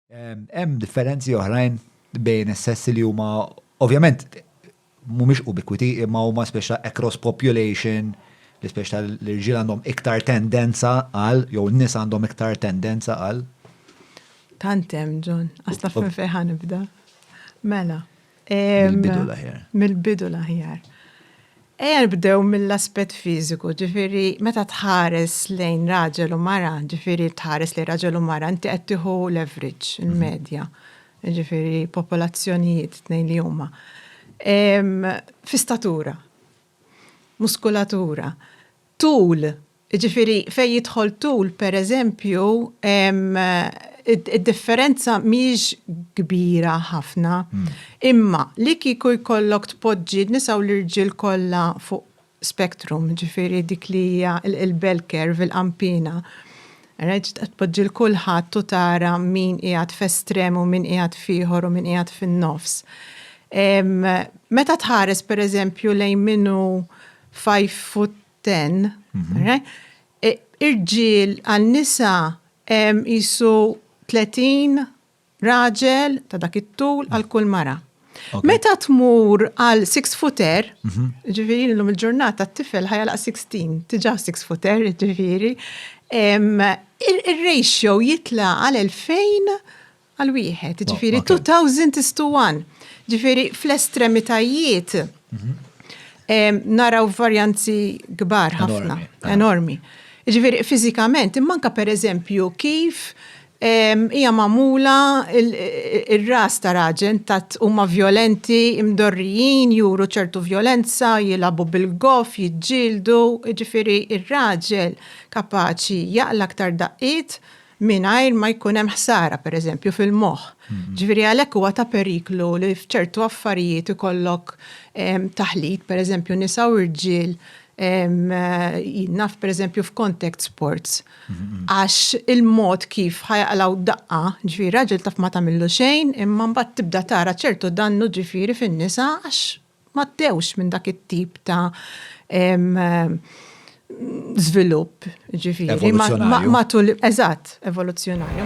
Hemm differenzi oħrajn bejn is-sessi li huma ovvjament mhumiex ubikwiti imma huma speċa across population li speċa l-irġiel għandhom iktar tendenza għal jew n-nisa għandhom iktar tendenza għal. Tant hemm John, għasta fejn fejn ħanibda. Mela. Mill-bidu l-aħjar. Mill-bidu l-aħjar. Ejja nibdew mill-aspett fiżiku, ġifieri meta tħares lejn raġel u mara, ġifieri tħares lejn raġel u mara, inti qed tieħu l-average, il-medja, ġifieri popolazzjonijiet tnejn li huma. Fi statura, muskulatura, tul Jiġifieri fejn jidħol tul, pereżempju, id-differenza mhijiex kbira ħafna. Imma li kieku jkollok tpoġġi n-nisa u l-irġiel kollha fuq spectrum, jiġifieri dik li hija l-bell curve, il-qanpiena, right, tpoġġi 'l kulħadd u tara min qiegħed f'estrem u min qiegħed f'ieħor u min qiegħed fin-nofs. Meta tħares pereżempju lejn min hu five foot ten, irġiel għal nisa jisu 30 raġel ta' dak it-tul għal kull mara. Meta tmur għal 6 footer, mhm. ġifiri l-lum il-ġurnata t-tifel ħajja laq 16, tiġa 6 footer, ġifiri, il-ratio jitla għal 2000 Għal wieħed, oh, ġifiri 2000 is to 1. Ġifiri fl-estremitajiet mhm. naraw varjanzi kbar ħafna, enormi. Ġifiri fizikament, immanka per eżempju kif hija mamula il-ras ta' raġen tat huma violenti, imdorrijin, juru ċertu violenza, jilabu bil-gof, jiġġieldu, ġifiri ir-raġel kapaċi jaqla aktar daqqiet mingħajr ma jkun hemm ħsara pereżempju fil-moħħ. Ġifieri għalhekk huwa ta' periklu li f'ċertu affarijiet ikollok taħlit pereżempju nisa u rġiel jien naf pereżempju f'contact sports. Għax il-mod kif ħajaqlaw daqqa, ġifieri raġel taf ma tagħmillu xejn imma mbagħad tibda tara ċertu dannu ġifieri fin-nisa għax m'għaddewx minn dak it-tip ta' żvilupp, jiġifieri. Evoluzzjonarju. Matul, eżatt, evoluzzjonarju.